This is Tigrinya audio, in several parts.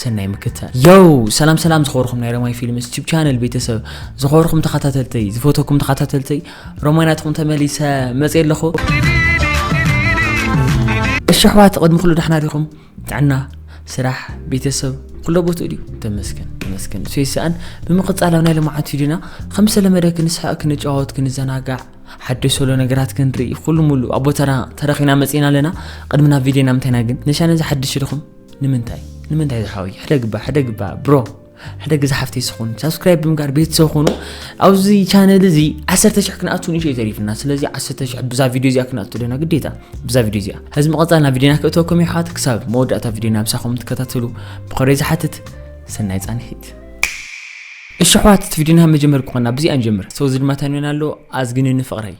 ሰናይ ምክትታል ዮው ሰላም ሰላም ዝኸበርኩም ናይ ረማይ ፊልምስ ዩቲብ ቻነል ቤተሰብ ዝኸበርኩም ተኸታተልተይ ዝፈተኩም ተኸታተልተይ ረማይ ናትኹም ተመሊሰ መፅየ ኣለኹ እሺ ኣሕዋት ቅድሚ ኩሉ ዳሕና ዲኹም ጥዕና ስራሕ ቤተሰብ ኩሎ ቦትኡ ድዩ ተመስገን ተመስገን እሱ ይስኣን ብምቕፃል ኣብ ናይ ልምዓት ሂድና ከም ዝተለመደ ክንስሕቕ ክንጫወት ክንዘናጋዕ ሓደሽ ሰሎ ነገራት ክንርኢ ኩሉ ሙሉ ኣብ ቦታና ተረኺና መፂና ኣለና ቅድሚ ናብ ቪድዮና ምንታይና ግን ነሻ ነዚ ሓድሽ ኢልኹም ንምንታይ ንምንታይ ዝሓወይ ሕደግ እባ ሕደግ እባ ብሮ ሕደግ ዝሓፍተይ ስኹን ሳብስክራይብ ብምጋር ቤተሰብ ኾኑ ኣብዚ ቻነል እዚ ዓሰርተ ሽሕ ክንኣቱ ንእሸ ተሪፍና ስለዚ ዓሰርተ ሽሕ ብዛ ቪድዮ እዚኣ ክንኣቱ ደና ግዴታ ብዛ ቪድዮ እዚኣ ሕዚ መቐፃል ናብ ቪድዮና ክእተወኩም እዩ ሓት ክሳብ መወዳእታ ቪድዮና ምሳኹም ትከታተሉ ብኸረይ ዝሓትት ሰናይ ፃንሒት እሺ ኣሕዋት እቲ ቪድዮና መጀመር ክኾና ብዚኣ ንጀምር ሰው ዝድማታ ንበና ኣሎ ኣዝግንኒ ፍቕረይ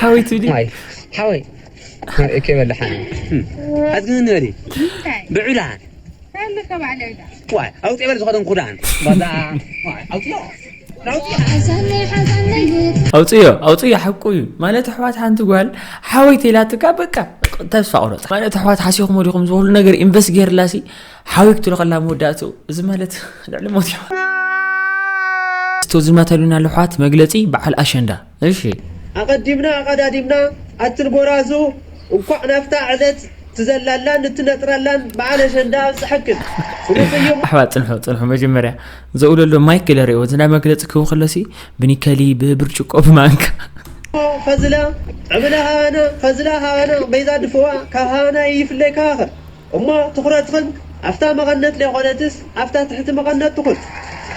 ሓወይ ትብሊ ማይ ሓወይ እከ በላሓኒ ኣዝግን ንበሊ ብዑዳን ዋይ ኣውፂ በል ዝኾነ ኩዳን ባዛ ኣውፅዮ ኣውፅዮ ኣውፅዮ ሓቁ እዩ ማለት ኣሕዋት ሓንቲ ጓል ሓወይቲ ኢላትካ በቃ ተስፋ ቁረፅ ማለት ኣሕዋት ሓሲኹም ወዲኹም ዝበሉ ነገር ኢንቨስት ገይርላ ሲ ሓወይ ክትሎ ከላ መወዳእትኡ እዚ ማለት ልዕሊ ሞት እዩ ዝመተሉና ልሕዋት መግለፂ በዓል ኣሸንዳ እሺ። ኣቐዲምና ኣቐዳዲምና ኣትን ጎራዙ እንኳዕ ናብታ ዕለት ትዘላላን እትነጥራላን በዓል ኣሸንዳ ኣብፀሐክን ፍሉይ ቅይሙ። ኣሕዋት ጽንሑ ጽንሑ መጀመርያ ዘውለሎ ማይክ ግለርዮ እዚ ናይ መግለጺ ክህቡ ከለሲ ብኒከሊ ብብርጭቆ ብማንካ። ኸዝላ ዕብላ ሃባና ኸዝላ ሃባና በይዛ ድፍዋ ካብ ሃባና ይይፍለይ ካባኸ። እሞ ትኹረትኽን ኣፍታ መቐነት ለይኾነትስ ኣፍታ ትሕቲ መቐነት ትኹን።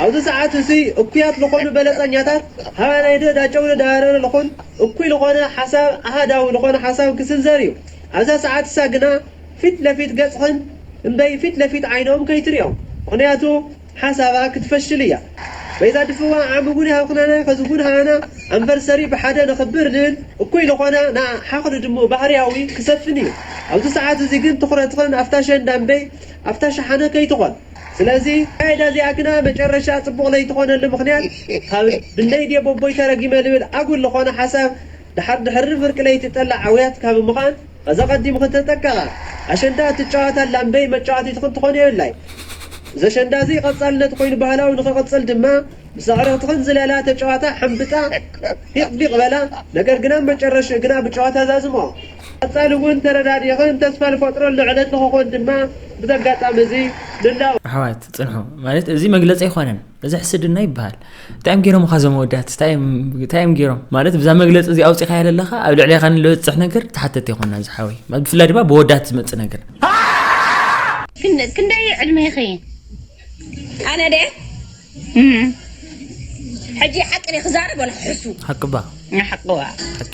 ኣብዚ ሰዓት እዙይ እኩያት ልኾኑ በለፀኛታት ሃባናይዶ ዳጨውዶ ዳባረረ ልኹን እኩይ ልኾነ ሓሳብ ኣሃዳዊ ልኾነ ሓሳብ ክስንዘር እዩ። ኣብዛ ሰዓት እሳ ግና ፊት ለፊት ገፅኽን እምበይ ፊት ለፊት ዓይኖም ከይትሪኦም ምኽንያቱ ሓሳባ ክትፈሽል እያ በይዛ ድፍዋ ዓሚ እውን ሃብክናና ከዚ እውን ሃና ኣንቨርሰሪ ብሓደ ነክብር ንል እኩይ ልኮና ንኣ ሓክሊ ድሙ ባህርያዊ ክሰፍን እዩ ኣብዚ ሰዓት እዚ ግን ትኩረትክን ኣፍታ ሸንዳ እምበይ ኣፍታ ሸሓነ ከይትኮን ስለዚ ኣካይዳ እዚኣ ግና መጨረሻ ፅቡቅ ለይትኮነሉ ምክንያት ካብ ብነይ ድየ ቦቦይ ተረጊመ ልብል ኣጉል ልኮነ ሓሳብ ድሓር ድሕሪ ፍርቂ ለይቲ ጠላዕ ኣውያት ካብ ምዃን ኸዚ ኣቐዲሙ ክተጠቀቐ ኣሸንዳ እትጫወት ኣላ እምበይ መጫወቲት ኽትኾን የብላይ። እዚ ኣሸንዳ እዚ ቐፃልነት ኾይኑ ባህላዊ ንኽቕፅል ድማ ምስ ኣዕርኽትኽን ዝለላ፣ ተጫወታ፣ ሕምብጣ፣ ፊቕ ፊቕ በላ ነገር ግን ኣብ መጨረሽኡ ግና ብጨወታ ዛዝምኦ። ቐፃሊ እውን ተረዳዲእኽን ተስፋ ልፈጥረሉ ዕለት ንኽኾን ድማ ብዚ ኣጋጣሚ እዚ ንላቦ። ኣሕዋት ፅንሑ ማለት እዚ መግለፂ ኣይኾነን። እዚ ሕስድና ይበሃል እንታይ እዮም ገይሮም ካ ዞም ወዳት እንታይ እዮም ገይሮም ማለት ብዛ መግለፂ እዚ ኣውፂኻ የለለኻ ኣብ ልዕሌኻ ንልበፅሕ ነገር ተሓተት ይኮና ዝሓወይ ብፍላይ ድማ ብወዳት ዝመፅእ ነገር ክንደይ ዕድሜኺ ኣነ ደ ሕጂ ሓቂ ክዛረብ ወላ ሕሱ ሓቅባ ሓቅዋ ሓቂ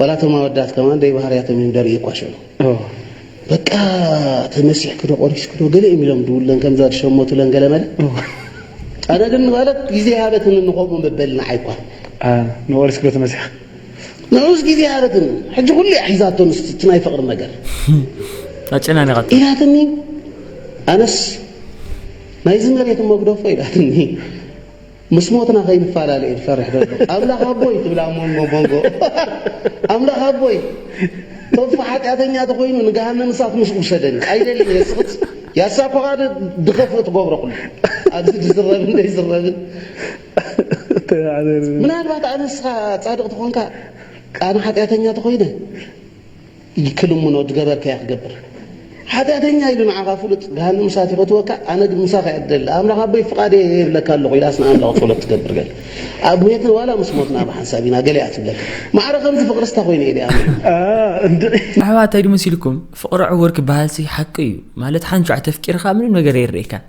ዋላ እቶም ኣወዳት ከማን ደይ ባህርያቶም እዮም ደርኢ እኳ ሽዑ በቃ ተመሲሕኪ ዶ ቆሪስኪ ዶ ገለ እዮም ኢሎም ድውለን ከምዛ ድሸመቱለን ገለ መለ ኣነ ግን ማለት ግዜ ሃበትን ንኸምኡ መበል ንዓይ እኳ ንቆሪስኪ ዶ ተመሲሕ ንዑስ ግዜ ሃበትን ሕጂ ኩሉ እያ ሒዛቶ ንስቲ እቲ ናይ ፍቕሪ ነገር ኣጨናኒቓቶ ኢላትኒ ኣነስ ናይዚ መሬት መግደፎ ኢላትኒ ምስ ሞትና ከይንፋላለ እየ ዝፈርሕ ደሎ ኣምላክ ኣቦይ ትብል ኣብ ሞንጎ ሞንጎ ኣምላክ ኣቦይ ቶፋ ሓጢኣተኛ ተኮይኑ ንገሃነም እሳት ምስ ውሰደኒ ኣይደልን እየ ስክት ያሳ ኮካ ዶ ድከፍእ ትገብሮ ኩሉ ኣብዚ ድዝረብን ደይዝረብን ምናልባት ኣነ ንስካ ጻድቅ ተኮንካ ኣነ ሓጢኣተኛ ተኮይነ ክልምኖ ድገበርከያ ክገብር ሓጢኣተኛ ኢሉ ንዓኻ ፍሉጥ ገሃንም እሳት ይፈትወካ ኣነ ግን ምሳኻ እየ ድደሊ ኣምላኽ ኣቦይ ፍቓድ እየ ይብለካ ኣለኹ ኢላስ ንኣምላኽ ጸሎት ትገብር ገለ ኣብ ሜት ዋላ ምስ ሞትና ብሓንሳብ ኢና ገለ እያ ትብለካ ማዕረ ከምዚ ፍቕሪ ስታ ኮይነ እየ ኣሚን ኣሕዋት ታይ ድመሲልኩም ፍቕሪ ዕውር ክበሃልሲ ሓቂ እዩ ማለት ሓንቹ ኣተፍቂርኻ ምንም ነገር የርኤካን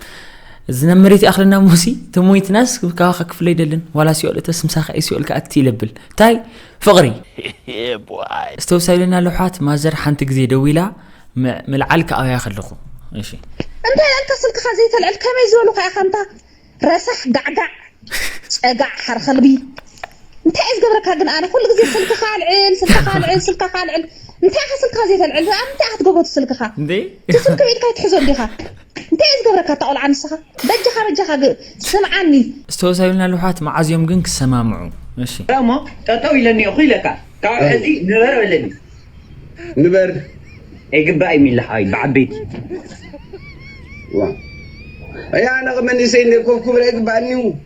እዚ ናብ መሬት ይኣኽለና ሞሲ ተሞይትናስ ካባኻ ክፍለ ኣይደልን ዋላ ሲኦል እተስ ምሳኻ እዩ ሲኦል ክኣቲ ይለብል ታይ ፍቕሪ ዝተውሳ ኢለና ኣሎ ኣሕዋት ማዘር ሓንቲ ግዜ ደዊላ ምልዓል ክኣብያ ከለኹ እሺ እንታይ ኣልካ ስልክኻ ዘይተልዕል ከመይ ዝበሉ ከ ኢኻ እንታ ረሳሕ ጋዕጋዕ ጨጋዕ ሓር ከልቢ እንታይ እየ ዝገብረካ ግን ኣነ ኩሉ ግዜ ስልክኻ ኣልዕል ስልክኻ ኣልዕል ስልክኻ ኣልዕል እንታይ ኢኻ ስልክኻ ዘይተልዕል ኣብ እንታይ ኢኻ ትገብሮ ስልክኻ እቲ ስልኪ ብኢድካ ይትሕዞ እንዲኻ እንታይ እያ ዝገብረካ እታ ቆልዓ ንስኻ በጃኻ በጃኻ ስምዓኒ። እስቲ ሆስ ኣይብልና ልሑሓት መዓዝ እዮም ግን ክሰማምዑ እሺ። እሞ ጠጠው ኢለ እኒኦኹ ኢለካ ካብኡ ሕዚ ንበር በለኒ። ንበር ኣይግባእ እዩ ሚሊ ሓወይ ብዓበይቲ። ዋው ኣይ ኣነ መንእሰይ እንደ ኮፍ ክብል ኣይግባኣንዩ።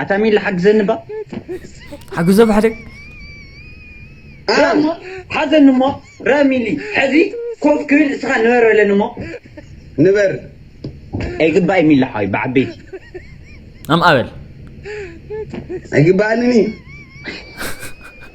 ኣታ ሚሊ ሓግዘኒ እባ ሓግዞ ብሓደ እሞ ሓዘኒ እሞ ረ ሚሊ ሕዚ ኮፍ ክብል እስኻ ንበር በለኒ እሞ ንበር ኣይግባእ ሚሊ ሓወይ ብዓበይቲ ኣምኣ በል ኣይግባኣንን እዩ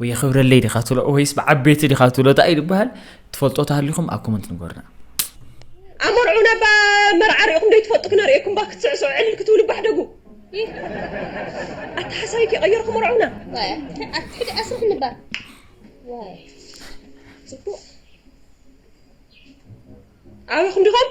ወይ የኽብረለይ ዲኻ ትብሎ ወይስ ብዓበይቲ ዲኻ ትብሎ እንታይ እዩ ዝበሃል ትፈልጦ ተሃሊኹም ኣብ ኮመንት ንገሩና ኣመርዑ ናብ መርዓ ሪእኹም ዶ ትፈልጡ ክነርእየኩም ባ ክትስዕስዑ ዕልል ክትብሉ ባሕደጉ ኣታ ሓሳቢ ከይቀየርኩ መርዑና ሕጂ ኣስርሕ ንባር ፅቡቅ ኣበኹም ዲኹም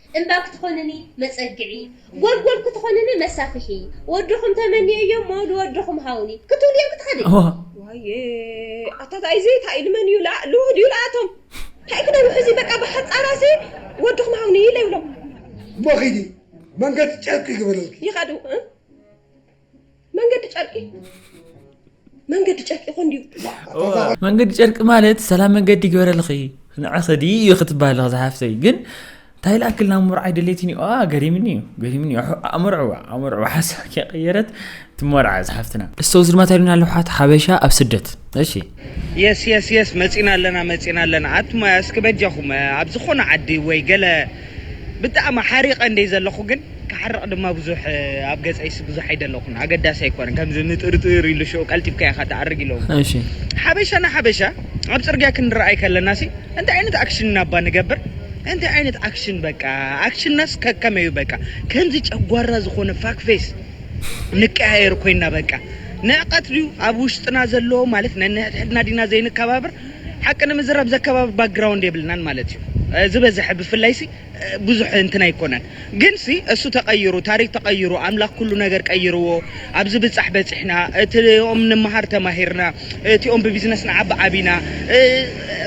እምባ ክትኾንኒ መጸግዒ፣ ጎልጎል ክትኾንኒ መሳፍሒ፣ ወድኹም ተመንየዮ እሞ ልወድኹም ሃቡኒ ክትብልዮ ክትኸዲ። ዋየ ኣታ ታይዚ ታይ ኢሉ መን እዩ ልውህ ድዩ ልኣቶም ታይ ክነውሕ እዚ በቃ ብሓፃራሲ ወድኹም ሃቡኒ ኢለ ይብሎም። እሞ ኺዲ መንገዲ ጨርቂ ይግበረልኪ። ይኸዱ። መንገዲ ጨርቂ መንገዲ ጨርቂ ይኾን ድዩ መንገዲ ጨርቂ ማለት ሰላም መንገዲ ይግበረልኺ ንዕኺ ድዩ እዩ ክትበሃል ኣለኺ ዝሓፍተይ ግን እንታይ ላክል ናብ መርዓይ ደሌትን እዩ ገሪምኒ እዩ ገሪምኒ እዩ ኣመርዕዋ ኣመርዕዋ ሓሳብ ከይቀየረት ትመርዓ ዝሓፍትና እስተውዝድ ማታሉና ኣለሓት ሓበሻ ኣብ ስደት እሺ የስ የስ የስ መጺና ኣለና መጺና ኣለና ኣቱም እስኪ በጃኹም ኣብ ዝኾነ ዓዲ ወይ ገለ ብጣዕሚ ሓሪቐ እንድየ ዘለኹ ግን ክሓርቕ ድማ ብዙሕ ኣብ ገጸይሲ ብዙሕ ኣይደለኹን ኣገዳሲ ኣይኮነን ከምዚ ንጥርጥር ኢሉ ሽዑ ቀልጢፍካ ኢኻ ትኣርግ ኢሎም እሺ ሓበሻ ንሓበሻ ኣብ ጽርግያ ክንረኣይ ከለናሲ እንታይ ዓይነት ኣክሽን ኢና እባ ንገብር እንታይ ዓይነት ኣክሽን በቃ ኣክሽንናስ ከከመይ እዩ በቃ ከምዚ ጨጓራ ዝኾነ ፋክ ፌስ ንቀያየር ኮይና በቃ ንዕቀት ድዩ ኣብ ውሽጥና ዘሎ ማለት ነንሕድሕድና ዲና ዘይንከባብር ሓቂ ንምዝራብ ዘከባብር ባክግራውንድ የብልናን ማለት እዩ ዝበዝሐ ብፍላይ ሲ ብዙሕ እንትን ኣይኮነን ግን ሲ እሱ ተቀይሩ ታሪክ ተቀይሩ ኣምላክ ኩሉ ነገር ቀይርዎ ኣብዚ ብጻሕ በጺሕና እቲኦም ንምሃር ተማሂርና እቲኦም ብቢዝነስ ንዓቢ ዓቢና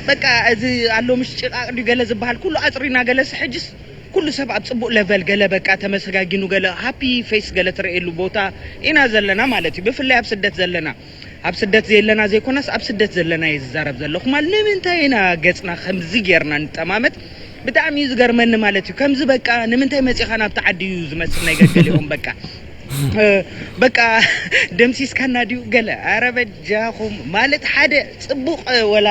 በቃ እዚ ኣሎ ምሽ ጭቃቅ ድዩ ገለ ዝበሃል ኩሉ ኣጽሪና ገለሲ ሕጅስ ኩሉ ሰብ ኣብ ጽቡቅ ለቨል ገለ በቃ ተመሰጋጊኑ ገለ ሃፒ ፌስ ገለ ትረኤሉ ቦታ ኢና ዘለና ማለት እዩ ብፍላይ ኣብ ስደት ዘለና ኣብ ስደት ዘየለና ዘይኮናስ ኣብ ስደት ዘለና እየ ዝዛረብ ዘለኩ ማል ንምንታይ ኢና ገጽና ከምዚ ጌርና ንጠማመት ብጣዕሚ እዩ ዝገርመኒ ማለት እዩ ከምዚ በቃ ንምንታይ መጺኻ ናብቲ ዓዲ እዩ ዝመስል ናይ ገገሊኦም በቃ በቃ ደምሲስካና ድዩ ገለ ኣረ በጃኹም ማለት ሓደ ጽቡቅ ወላ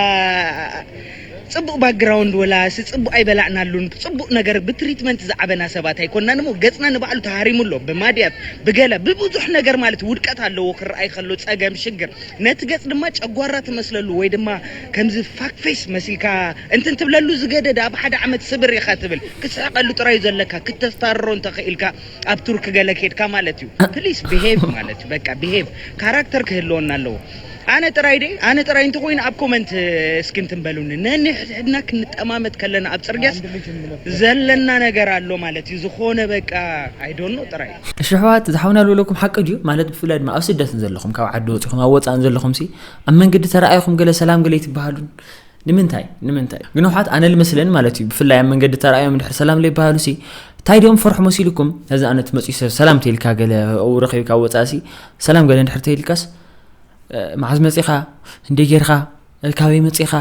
ጽቡቅ ባግራውንድ ወላስ ጽቡቅ ኣይበላዕናሉን ብጽቡቅ ነገር ብትሪትመንት ዝዓበና ሰባት ኣይኮናን እሞ ገጽና ንባዕሉ ተሃሪሙ ኣሎ ብማድያት ብገለ ብብዙሕ ነገር ማለት ውድቀት ኣለዎ ክርኣይ ከሎ ጸገም ሽግር ነቲ ገጽ ድማ ጨጓራ ትመስለሉ ወይ ድማ ከምዚ ፋክ ፌስ መሲልካ እንትን ትብለሉ ዝገደደ ኣብ ሓደ ዓመት ስብር ኢኻ ትብል ክትስሕቀሉ ጥራዩ ዘለካ ክተስታርሮ እንተኺኢልካ ኣብ ቱርክ ገለ ኬድካ ማለት እዩ ፕሊስ ብሄቭ ማለት እዩ በቃ ብሄቭ ካራክተር ክህልወና ኣለዎ ኣነ ጥራይ ደ ኣነ ጥራይ እንተኮይኑ ኣብ ኮመንት እስኪ እንትን በሉኒ ነንሕድሕድና ክንጠማመት ከለና ኣብ ፅርግያስ ዘለና ነገር ኣሎ ማለት እዩ ዝኾነ በቃ ኣይዶኖ ጥራይ እሺ ኣሕዋት ዝሓውና ዝበለኩም ሓቂ ድዩ ማለት ብፍላይ ድማ ኣብ ስደት ዘለኹም ካብ ዓዲ ወፂኹም ኣብ ወፃእን ዘለኹም ሲ ኣብ መንገዲ ተረኣይኹም ገለ ሰላም ገለ ይትበሃሉን ንምንታይ ንምንታይ ግንውሓት ኣነ ልመስለን ማለት እዩ ብፍላይ ኣብ መንገዲ ተራእዮም ድሕር ሰላም ለይበሃሉ ሲ እንታይ ድኦም ፈርሑ መሲልኩም ነዚ ኣነት መፅኡ ሰብ ሰላም ተይልካ ገለ ው ረኺብካ ወፃእ ሲ ሰላም ገለ ድሕር ተይልካስ መዓዝ መፂኻ እንደ ጌርካ ካበይ መፂኻ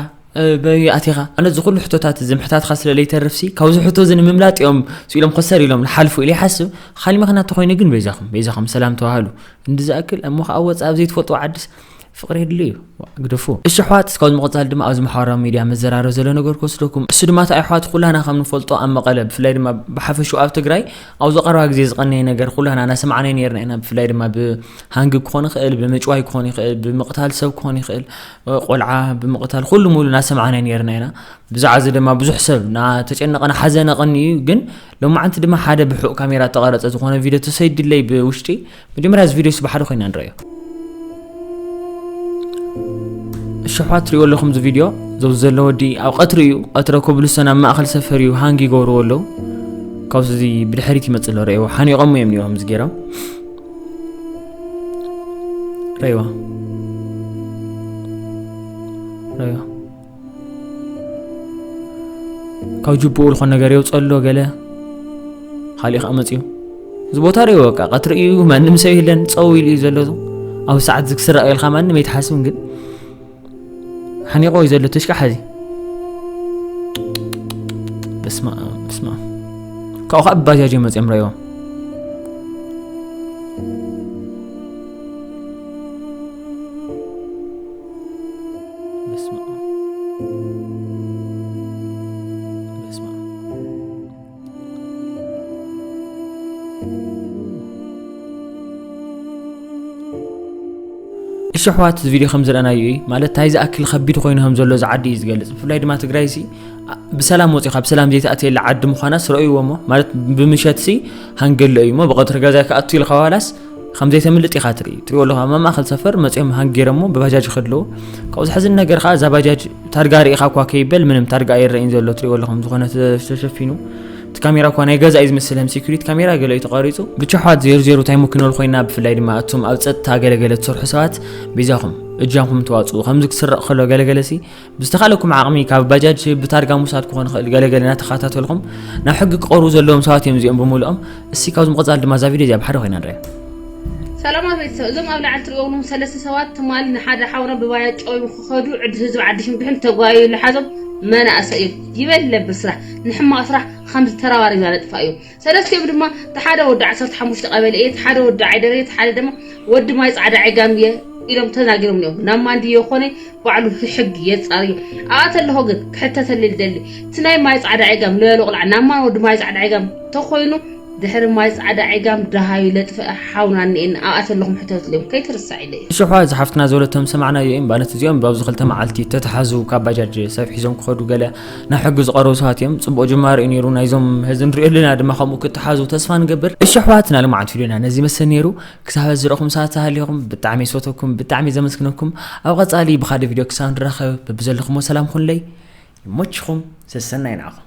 በይ ኣቲኻ ኣነ እዚ ኩሉ ሕቶታት እዚ ምሕታትካ ስለ ለይተርፍሲ ካብዚ ሕቶ እዚ ንምምላጥ እዮም ስኢሎም ኮሰር ኢሎም ንሓልፉ ኢለ ይሓስብ ካሊ ምክንያት ተኮይኑ ግን በይዛኹም በይዛኹም ሰላም ተዋህሉ እንዲ ዝኣክል እሞ ከዓ ወፃእ ኣብ ዘይትፈልጥዎ ዓድስ ፍቅሪ የድሊ እዩ ግደፉ እሺ ኣሕዋት እስካብ ዝምቕፃል ድማ ኣብዚ ማሕበራዊ ሚድያ መዘራረብ ዘሎ ነገር ክወስደኩም እሱ ድማ እንታይ ኣሕዋት ኩላና ከም ንፈልጦ ኣብ መቐለ ብፍላይ ድማ ብሓፈሽኡ ኣብ ትግራይ ኣብዚ ቀረባ ግዜ ዝቐነየ ነገር ኩላና እናሰማዕናዮ ነርና ኢና ብፍላይ ድማ ብሃንጊ ክኾን ይኽእል ብምጭዋይ ክኾን ይኽእል ብምቕታል ሰብ ክኾን ይኽእል ቆልዓ ብምቕታል ኩሉ ሙሉ እናሰማዕናዮ ነርና ኢና ብዛዕባ እዚ ድማ ብዙሕ ሰብ ናተጨነቐን ሓዘነ ቐኒ እዩ ግን ሎማዓንቲ ድማ ሓደ ብሑቕ ካሜራ ተቐረፀ ዝኾነ ቪድዮ ተሰይድለይ ብውሽጢ መጀመርያ እዚ ቪድዮስ ብሓደ ኮይና ንረዮ ሽሕዋት ትሪእዎ ኣለኹም እዚ ቪድዮ ዘብዚ ዘሎ ወዲ ኣብ ቀትሪ እዩ ቀትረ ኮብልሰን ኣብ ማእኸል ሰፈር እዩ ሃንግ ይገብርዎ ኣለዉ ካብዚ እዚ ብድሕሪት ይመፅ ኣሎ ረእዎ ሓኒቖሞ እዮም ኒዋ ምስ ገይሮም ረእዋ ረእዋ ካብ ጅብኡ ዝኾነ ነገር የውፀሎ ገለ ካሊእ ከዓ መፅኡ እዚ ቦታ ሪኦ በቃ ቀትሪ እዩ ማንም ሰብ የለን ፀው ኢሉ እዩ ዘሎ ኣብ ሰዓት ዝክስራ ኢልካ ማንም ኣይትሓስብን ግን ሓኒቆ እዩ ዘሎ ተሽካ ሓዚ በስማ በስማ ካብኡ ከዓ ብባጃጅ እዮም መፅኦም ረእዎ እሺ ኣሕዋት እዚ ቪድዮ ከም ዝረኣናዮ እዩ ማለት እንታይ ዝኣክል ከቢድ ኮይኑ ከም ዘሎ እዚ ዓዲ እዩ ዝገልፅ ብፍላይ ድማ ትግራይ ሲ ብሰላም ወፂኻ ብሰላም ዘይተኣትየላ ዓዲ ምዃና ስረእይዎ እሞ ማለት ብምሸት ሲ ሃንገሎ እዩ እሞ ብቐትሪ ገዛይ ክኣቱ ኢልካ ዋላስ ከም ዘይተምልጥ ኢኻ ትርኢ ትሪኦ ኣለኻ ኣብ ማእኸል ሰፈር መፅኦም ሃንጊረሞ ብባጃጅ ይኸድ ኣለዎ ካብኡ ዝሕዝን ነገር ከዓ እዛ ባጃጅ ታርጋ ርኢኻ እኳ ከይበል ምንም ታርጋ ኣይረእን ዘሎ ትሪኦ ኣለኹም ዝኾነ ተሸፊኑ እቲ ካሜራ እኳ ናይ ገዛ እዩ ዝመስል ከም ሴኩሪቲ ካሜራ ገለ እዩ ተቋሪፁ ብቻ ኣሕዋት ዜሩ ዜሩ እንታይ ምክነል ኮይና ብፍላይ ድማ እቶም ኣብ ፀጥታ ገለገለ ትሰርሑ ሰባት ቤዛኹም እጃምኩም ተዋፅኡ ከምዚ ክስረቕ ከሎ ገለገለ ሲ ብዝተኻለኩም ዓቕሚ ካብ ባጃጅ ስብ ብታርጋ ምውሳድ ክኾን ይኽእል ገለ ገለ እናተኸታተልኹም ናብ ሕጊ ክቐርቡ ዘለዎም ሰባት እዮም እዚኦም ብምልኦም እስቲ ካብዚ ምቕፃል ድማ እዛ ቪድዮ እዚኣ ብሓደ ኮይና ንሪኣ ሰላማት ቤተሰብ እዞም ኣብ ላዕሊ ትሪኦዎም ሰለስተ ሰባት ትማሊ ንሓደ ሓውና ብባያ ጨውዮም ክኸዱ ዕዲ ህዝቢ ዓዲ ሽምብሕን ተጓዩ ልሓዞም መናእሰይ እዮም ይበል ለብል ስራሕ ንሕማቕ ስራሕ ከምዚ ተራባሪብና ነጥፋ እዩ ሰለስቲኦም ድማ እቲ ሓደ ወዲ ዓሰርተ ሓሙሽተ ቀበሌ እየ፣ እቲ ሓደ ወዲ ዓይደር እየ፣ እቲ ሓደ ድማ ወዲ ማይ ጻዕዳ ዐጋም እየ ኢሎም ተናጊሮም እዮም ናብ ማንድዮ ኮነ ባዕሉ ሕጊ የጻርዮ ኣብኣ ተለሆ ግን ክሕተተልል ደሊ እቲ ናይ ማይ ጻዕዳ ዐጋም ልበሎ ቁልዓ ናብ ማን ወዲ ማይ ጻዕዳ ዐጋም ተኮይኑ ድሕሪ ማይ ጻዕዳ ዐጋም ደሃዩ ለጥፍአ ሓውና እኒኤና ኣብኣ ተለኹም ሕተትሉ እዮም ከይትርሳዕ ኢለ እዩ ሽሖ እዚ ሓፍትና ዝበለቶም ሰማዕናዮ እዮም ማለት እዚኦም ብኣብዚ ክልተ መዓልቲ ተተሓዙ ካብ ባጃጅ ሰብ ሒዞም ክኸዱ ገለ ናብ ሕጊ ዝቐረቡ ሰባት እዮም ፅቡቕ ጅማሮ እዩ ነይሩ ናይዞም ህዚ ንሪኦ ኣለና ድማ ከምኡ ክትሓዙ ተስፋ ንገብር እሺ ኣሕዋትና ልምዓት ፊሉና ነዚ መሰል ነይሩ ክሳብ ህዚ ዝረኹም ሰባት ተሃሊኹም ብጣዕሚ ዝፈተኩም ብጣዕሚ ዘመስግነኩም ኣብ ቐፃሊ ብካደ ቪድዮ ክሳብ ንራኸብ በብዘለኹሞ ሰላም ኹንለይ ይሞችኹም ሰሰናይ ንዓኹም